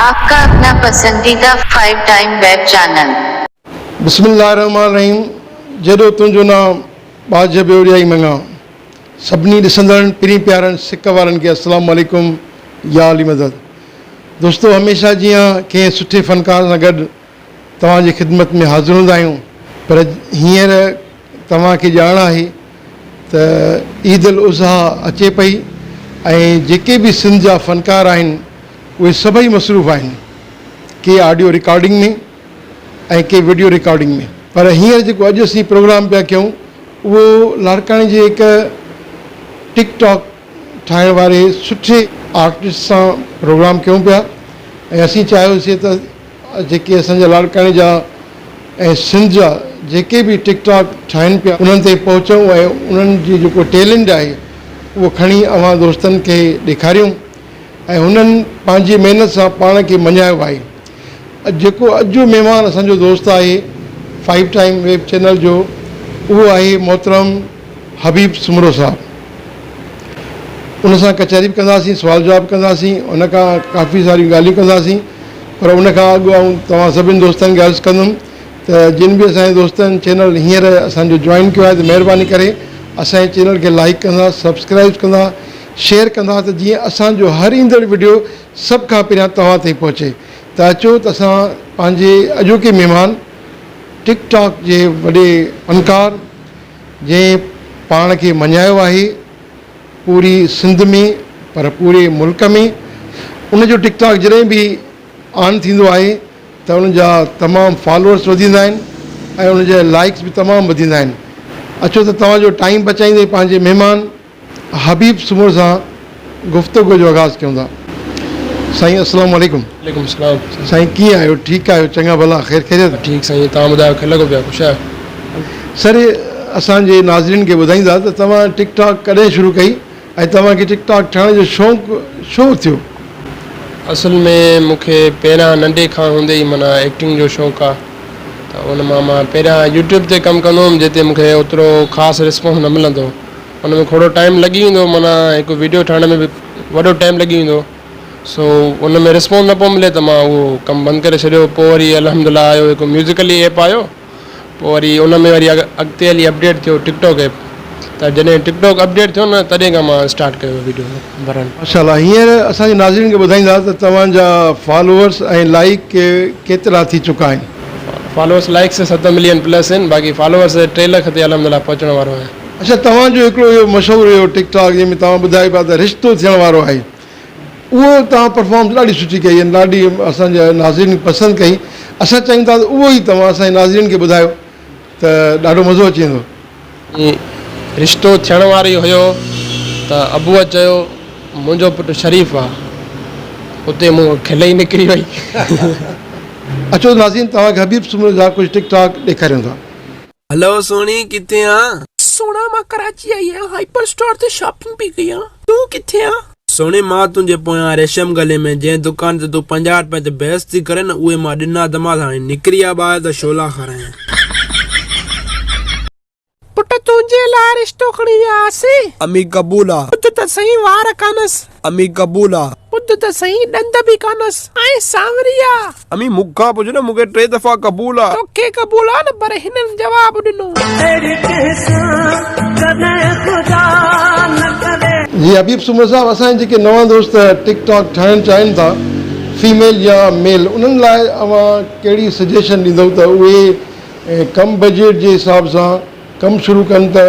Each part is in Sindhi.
آپ کا اپنا پسنديده فائيو ٽائيم ويب چينل. بسم الله الرحمٰن الرحيم جيڏو تنهنجو نانء ٻاجهه ٻيوڙيائي مڱا سڀني ڏسندڙن پرين پيارن سڪ وارن کي السلام عليڪم يا علي مدد دوستو هميشه جيان ڪنهن سٺي فنڪار سان گڏ توهان جي خدمت ۾ حاضر هوندا آهيون پر هينئر توهان کي ڄاڻ آهي ته عيد الاضحيٰ اچي پئي ۽ جيڪي به سنڌ جا فنڪار آهن اهي سڀئي مصروف آهن ڪي آڊيو رڪارڊنگ ۾ ۽ ڪي وڊيو رڪارڊنگ ۾ پر هينئر جيڪو اڄ اسين پروگرام پيا ڪيون اهو لاڙڪاڻي جي هڪ ٽڪ ٽاڪ ٺاهڻ واري سٺي آرٽسٽ سان پروگرام ڪيون پيا ۽ اسين چاهيوسين ته جيڪي اسان جا لاڙڪاڻي جا ۽ سنڌ جا جيڪي به ٽڪ ٽاڪ ٺاهين پيا انهن تي پهچون ۽ انهن جي جيڪو ٽيلنٽ آهي اهو کڻي اوهان دوستن کي ڏيکاريون ۽ هنن پنهنجي محنت سان پاڻ کي مڃايو آهي اڄ جيڪو اڄ جو مهمان اسان جو دوست آهي فائيو ٽائيم ويب چينل جو اهو آهي محترم حبيب سومرو صاحب ان سان ڪچهري به ڪنداسين سوال جواب ڪنداسين ان کان ڪافي ساريون ڳالهيون ڪنداسين پر ان کان اڳ آئون توهان سڀني دوستن کي عرض ڪندم ته جن به اسان جي دوستن چينل هينئر اسان جو جوائن ڪيو آهي ته مهرباني ڪري اسان جي چينل کي لائيڪ ڪندا سبسڪرائيب ڪندا شيئر ڪندا ته جيئن اسان جو هر ايندڙ وڊيو سڀ کان پهريان توهان تائين پهچي ته اچو ته اسان پنهنجي اڄوڪي مهمان ٽڪ ٽاڪ جي وڏي فنڪار جنهن پاڻ کي مڃايو آهي پوري سنڌ ۾ پر پوري ملڪ ۾ ان جو ٽڪ ٽاڪ جڏهن به آن ٿيندو آهي ته ان جا تمام فالورس وڌيندا آهن ۽ ان جا لائيڪس به تمام وڌيندا آهن اچو ته توهان جو ٽائيم بچائيندي پنهنجي مهمان حبيب سمور سان گفتگو جو آغاز ڪيون ٿا سائين اسلام عليڪم. عليڪم اسلام. سائين ڪيئن آهيو ٺيڪ آهيو چڱا ڀلا خير خيريت. ٺيڪ سائين توهان ٻڌايو کير لڳو پيا خوش آهيو. سر اسان جي ناظرين کي ٻڌائيندا ته توهان ٽڪ ٽاڪ ڪڏهن شروع ڪئي ۽ توهان کي ٽڪ ٽاڪ ٺاهڻ جو شوق ڇو ٿيو. اصل ۾ مون کي پهريان ننڍي کان هوندي ئي معنيٰ ايڪٽنگ جو شوق آهي ته ان مان مان پهريان يوٽيوب تي ڪم ڪندو هوم جتي مون کي اوترو خاص رسپانس نه ملندو هو. ان ۾ کوڙو ٽائيم لڳي ويندو معنيٰ هڪ ويڊيو ٺاهڻ ۾ به وڏو ٽائيم لڳي ويندو سو ان ۾ رسپانس نه پيو ملي ته مان اهو ڪم بند ڪري ڇڏيو پوء وري الحمد الله آيو هڪ ميوزڪلي ايپ آيو پوء وري ان ۾ وري اڳتي هلي اپڊيٽ ٿيو ٽڪ ٽاڪ ايپ ته جڏهن ٽڪ ٽاڪ اپڊيٽ ٿيو نه تڏهن کان مان اسٽارٽ ڪيو ويڊيو ڀرڻ. ماشاء الله هينئر اسان جي ناظرين کي ٻڌائيندا ته توهان جا فالوورس ۽ لائيڪ ڪيترا ٿي چڪا آهن. فالوورس لائيڪس ست ملين پلس آهن باقي فالوورس ٽي لک تي الحمد الله پهچڻ وارو آهيان. اڇا توهان جو هڪڙو اهو مشهور اهو ٽڪ ٽاڪ جنهن ۾ توهان ٻڌايو پيا ته رشتو ٿيڻ وارو آهي اهو توهان پرفارمنس ڏاڍي سٺي ڪئي ۽ ڏاڍي اسان جي ناظرين پسند ڪئي اسان چاهيون ٿا ته اهو ئي توهان اسان جي ناظرين کي ٻڌايو ته ڏاڍو مزو اچي ويندو. جي رشتو ٿيڻ وارو ئي هيو ته ابوء چيو منهنجو پٽ شريف آ اتي مون کي کل ئي نڪري وئي. اچو ناظرين توهان کي حبيب سومرو جا ڪجهه ٽڪ ٽاڪ ڏيکاريون ٿا. هلو سهڻي ڪٿي آن؟ سهڻا مان ڪراچي آئي آهيان هائپر اسٽور تي شاپنگ پي ڪئي آ تون ڪٿي آن؟ سهڻي مان تنهنجي پويان ريشم گلي ۾ جنهن دڪان تي تون پنجاهه رپين تي بحث ٿي ڪرين نه اهي مان ڏنا ته ماس هاڻي نڪري آ ٻاهر ته شعلا کارائين. پٽ تنهنجي لاء رشتو کڻي ويا هئاسين. امي قبول آ. ٻڌ ته سهي وار ڪانس. امي قبول آ. ٻڌ ته سهين ڏند به ڪانس ۽ سانوري آ. امي مون کان پڇ نه مون کي ٽي دفعا قبول آ. توکي قبول آ نه پر هنن جواب ڏنو. اهڙي ڪنهن سان ڪڏهن خدا نه ڪري. جي حبيب سومرو صاحب اسان جي جيڪي نوان دوست ٽڪ ٽاڪ ٺاهڻ چاهين ٿا فيميل يا ميل انهن لاء اوهان ڪهڙي سجيشن ڏيندؤ ته اهي ڪم بجيٽ جي حساب سان ڪم شروع ڪن ته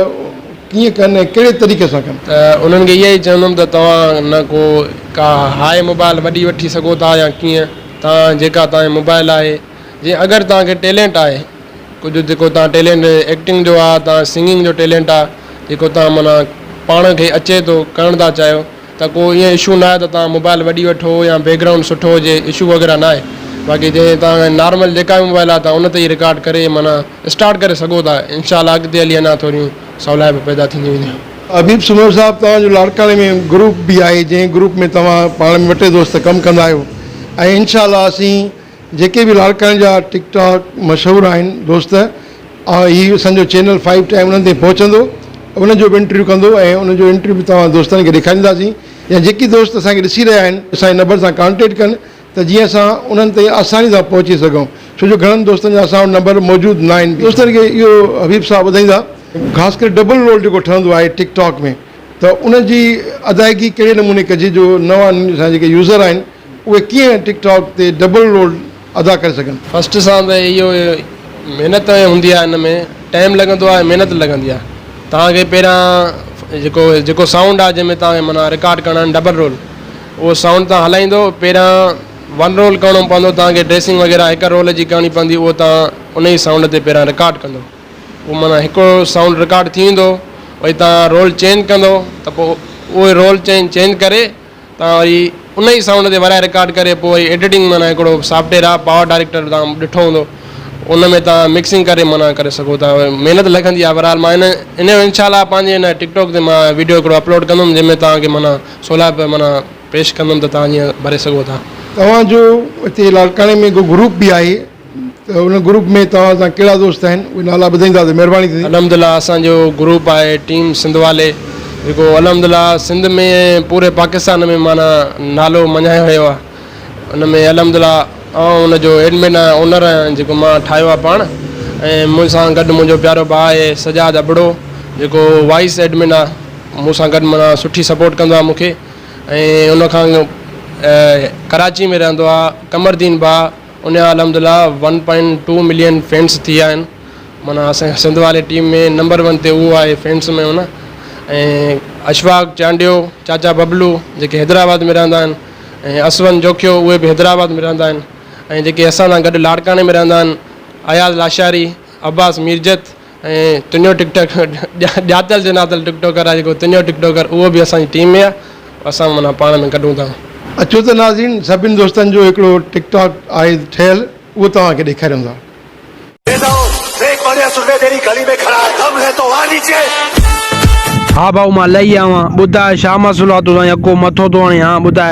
ڪيئن ڪن ۽ ڪهڙي طريقي سان ڪن؟ انهن کي اها ئي چوندم ته توهان نه ڪو ڪا هاء موبائل وڏي وٺي سگهو ٿا يا ڪيئن توهان جيڪا توهان جي موبائل آهي جي اگر توهان کي ٽيلينٽ آهي ڪجهه جيڪو توهان ٽيلينٽ ايڪٽنگ جو آهي توهان سنگنگ جو ٽيلينٽ آهي جيڪو توهان معنيٰ پاڻ کي اچي ٿو ڪرڻ ٿا چاهيو ته ڪو ائين اشو ناهي ته توهان موبائل وڏي وٺو يا بيڪ گرائونڊ سٺو هجي اشو وغيره ناهي باقي جنهن توهان کي نارمل جيڪا به موبائل آهي توهان ان تي ئي رڪارڊ ڪري معنيٰ اسٽارٽ ڪري سگهو ٿا انشاء الله اڳتي هلي اڃان ٿوريون سولائپون پيدا ٿينديون وينديون. حبيب سومرو صاحب توهان جو لاڙڪاڻي ۾ گروپ به آهي جنهن گروپ ۾ توهان پاڻ ۾ وٽي دوست ڪم ڪندا آهيو ۽ انشاء الله اسين جيڪي به لاڙڪاڻي جا ٽڪ ٽاڪ مشهور آهن دوست آئون هي اسان جو چينل فائيو ٽائيم انهن تائين پهچندو انهن جو به انٽرويو ڪندو ۽ انهن جو انٽرويو به توهان دوستن کي ڏيکارينداسين يا جيڪي دوست اسان کي ڏسي رهيا آهن اسان جي نمبر سان ڪانٽيڪٽ ڪن ته جيئن اسان انهن تائين آساني سان پهچي سگهون ڇو جو گهڻن دوستن جا اسان وٽ نمبر موجود نه آهن دوستن کي اهو حبيب صاحب ٻڌائيندا خاص ڪري ڊبل رول جيڪو ٺهندو آهي ٽڪ ٽاڪ ۾ ته ان جي ادائيگي ڪهڙي نموني ڪجي جو نوان اسان جا جيڪي يوزر آهن اهي ڪيئن ٽڪ ٽاڪ تي ڊبل رول ادا ڪري سگهن. فرسٽ سان ته اهو محنت هوندي آهي ان ۾ ٽائم لڳندو آهي محنت لڳندي آهي توهان کي پهريان جيڪو جيڪو سائونڊ آهي جنهن ۾ توهان کي معنيٰ رڪارڊ ڪرڻا آهن ڊبل رول اهو سائونڊ توهان هلائيندو پهريان ون رول ڪرڻو پوندو توهان کي ڊريسنگ وغيره هڪ رول جي ڪرڻي پوندي اهو توهان ان ئي سائونڊ تي پهريان رڪارڊ ڪندو اهو معنيٰ هڪ سائونڊ رڪارڊ ٿي ويندو وري توهان رول چينج ڪندو ته پوء اهو رول چينج چينج ڪري تان وري ان ئي سائونڊ تي ورائي رڪارڊ ڪري پوء وري ايڊيٽنگ معنيٰ هڪڙو سافٽويئر آهي پاور ڊائريڪٽر تان ڏٺو هوندو ان ۾ تان مڪسنگ ڪري معنيٰ ڪري سگهو ٿا محنت لڳندي آهي بهرحال مان ان ان انشاء الله پنهنجي ان ٽڪ ٽاڪ تي مان ويڊيو هڪڙو اپلوڊ ڪندم جنهن ۾ تان کي معنيٰ سولائي پي معنيٰ پيش ڪندم ته تان جيئن ڀري سگهو ٿا. توهان جو هتي لاڙڪاڻي ۾ ڪو گروپ به آهي. ته ان گروپ ۾ توهان سان ڪهڙا دوست آهن اهي نالا ٻڌائيندا ته مهرباني ٿيندي. الحمدلله اسان جو گروپ آهي ٽيم سنڌ والي جيڪو الحمدلله سنڌ ۾ ۽ پوري پاڪستان ۾ معنيٰ نالو مڃايو ويو آهي ان ۾ الحمدلله آئون ان جو ايڊمن آهيان اونر آهيان جيڪو مان ٺاهيو آهي پاڻ ۽ مون سان گڏ منهنجو پيارو ڀاء آهي سجاد ابڙو جيڪو وائيس ايڊمن آهي مون سان گڏ معنيٰ سٺي سپورٽ ڪندو آهي مون کي ۽ ان کان ڪراچي ۾ رهندو آهي قمر دين ڀاء انهيا الحمدلله one point two million fans ٿي ويا آهن معنيٰ اسان جي سنڌ واري ٽيم ۾ نمبر ون تي اهو آهي فينس ۾ معنيٰ ۽ اشفاق چانڊيو چاچا ببلو جيڪي حيدرآباد ۾ رهندا آهن ۽ اسون جوکيو اهي به حيدرآباد ۾ رهندا آهن ۽ جيڪي اسان سان گڏ لاڙڪاڻي ۾ رهندا آهن اياز لاشاري عباس ميرجت ۽ تنهنجو ٽڪ ٽاڪ ڄاتل سڃاتل ٽڪ ٽاڪر آهي جيڪو تنهنجو ٽڪ ٽاڪر اهو به اسان جي ٽيم ۾ آهي اسان معنيٰ پاڻ ۾ ڪڍون ٿا. اچو ته ناظرين سڀني دوستن جو هڪڙو ٽڪ ٽاڪ آهي ٺهيل اهو توهان کي ڏيکاريون ٿا. ها ڀائو مان لئي آوان ٻڌاء شاما سولاتو سان يڪو مٿو ٿو هڻي ها ٻڌاء.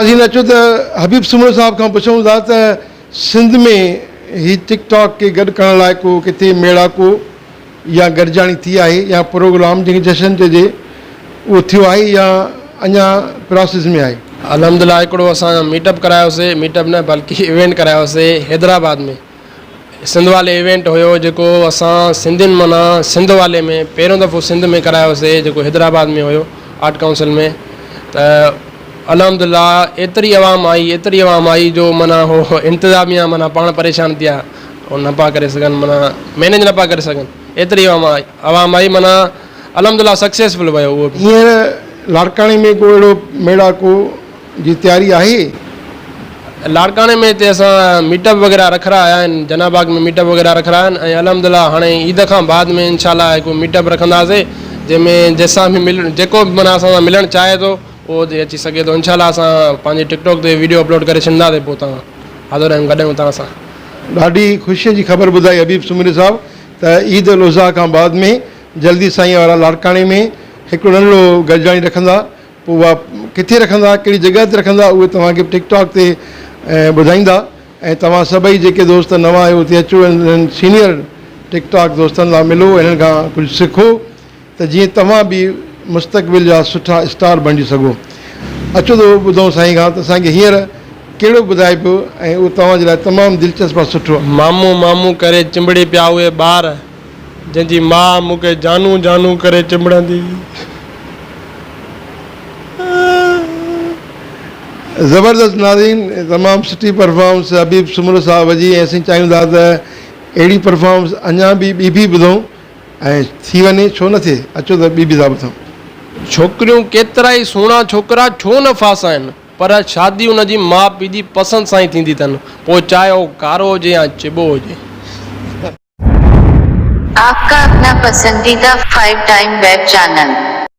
اسين اچو ته حبيب سومرو صاحب کان پڇون ٿا ته سنڌ ۾ هي ٽڪ ٽاڪ کي گڏ ڪرڻ لاء ڪو ڪٿي ميڙاڪو يا گڏجاڻي ٿي آهي يا پروگرام جنهن کي جشن چئجي اهو ٿيو آهي يا اڃا پراسيس ۾ آهي. الحمدلله هڪڙو اسان ميٽ اپ ڪرايوسي ميٽ اپ نه بلڪه ايونٽ ڪرايوسي حيدرآباد ۾ سنڌ والي ايونٽ هيو جيڪو اسان سنڌين معنيٰ سنڌ والي ۾ پهريون دفعو سنڌ ۾ ڪرايو سي جيڪو حيدرآباد ۾ هيو آرٽ ڪائونسل ۾ ته الحمد لله ايتري عوام آئي ايتري عوام آئي جو معنيٰ هو انتظاميا معنيٰ پاڻ پريشان ٿيا هو نه پيا ڪري سگهن معنيٰ مينيج نه پيا ڪري سگهن ايتري عوام آئي عوام آئي معنيٰ الحمد لله سڪسيسفل ويو هو لاڙڪاڻي ۾ ڪو اهڙو ميڙاڪو جي تياري آهي. لاڙڪاڻي ۾ هتي اسان ميٽ اپ وغيره رکرا آيا آهن جناح باغ ۾ ميٽ اپ وغيره رکرا آهن ۽ الحمد الله هاڻي عيد کان بعد ۾ انشاء الله هڪ ميٽ اپ رکنداسي جنهن ۾ جنهن سان به مل جيڪو به معنيٰ اسان سان ملڻ چاهي ٿو اهو هتي اچي سگهي ٿو انشاء الله اسان پنهنجي ٽڪ ٽاڪ تي ويڊيو اپلوڊ ڪري ڇڏنداسي پوء تان حاضر آهيون گڏ آهيون تان سان. ڏاڍي خوشي جي خبر ٻڌائي حبيب سومري صاحب ته عيد الاضحيٰ کان بعد ۾ جلدي سائين وارا لاڙڪاڻي ۾ هڪڙو ننڍڙو گڏجاڻي رکندا پوء اها ڪٿي رکندا ڪهڙي جڳهه تي رکندا اهي توهان کي ٽڪ ٽاڪ تي ٻڌائيندا ۽ توهان سڀئي جيڪي دوست نوان آهيو اتي اچو ۽ انهن سينيئر ٽڪ ٽاڪ دوستن سان ملو انهن کان ڪجهه سکو ته جيئن توهان به مستقبل جا سٺا اسٽار بڻجي سگهو اچو ته ٻڌون سائين کان ته اسان کي هينئر ڪهڙو ٻڌائي پيو ۽ اهو توهان جي لاء تمام دلچسپ ۽ سٺو آهي. مامو مامو ڪري چنبڙي پيا اهي ٻار. جنهن جي ماء مون کي جانو جانو ڪري چنبڙندي هئي. زبردست ناظرين تمام سٺي پرفارمنس حبيب سومرو صاحب جي ۽ اسين چاهيون ٿا ته اهڙي پرفارمنس اڃان به ٻي به ٻڌون ۽ ٿي وڃي ڇو نه ٿئي اچو ته ٻي به ٿا ٻڌون. ڇوڪريون ڪيترا ئي سهڻا ڇوڪرا ڇو نه ڦاسائين پر شادي ان جي ماء پيء جي پسند سان ئي ٿيندي اٿن پوء چاهي هو ڪارو هجي يا چٻو هجي. آپ ڪا اپنا پسنديده فائيو ٽائيم ويب چينل.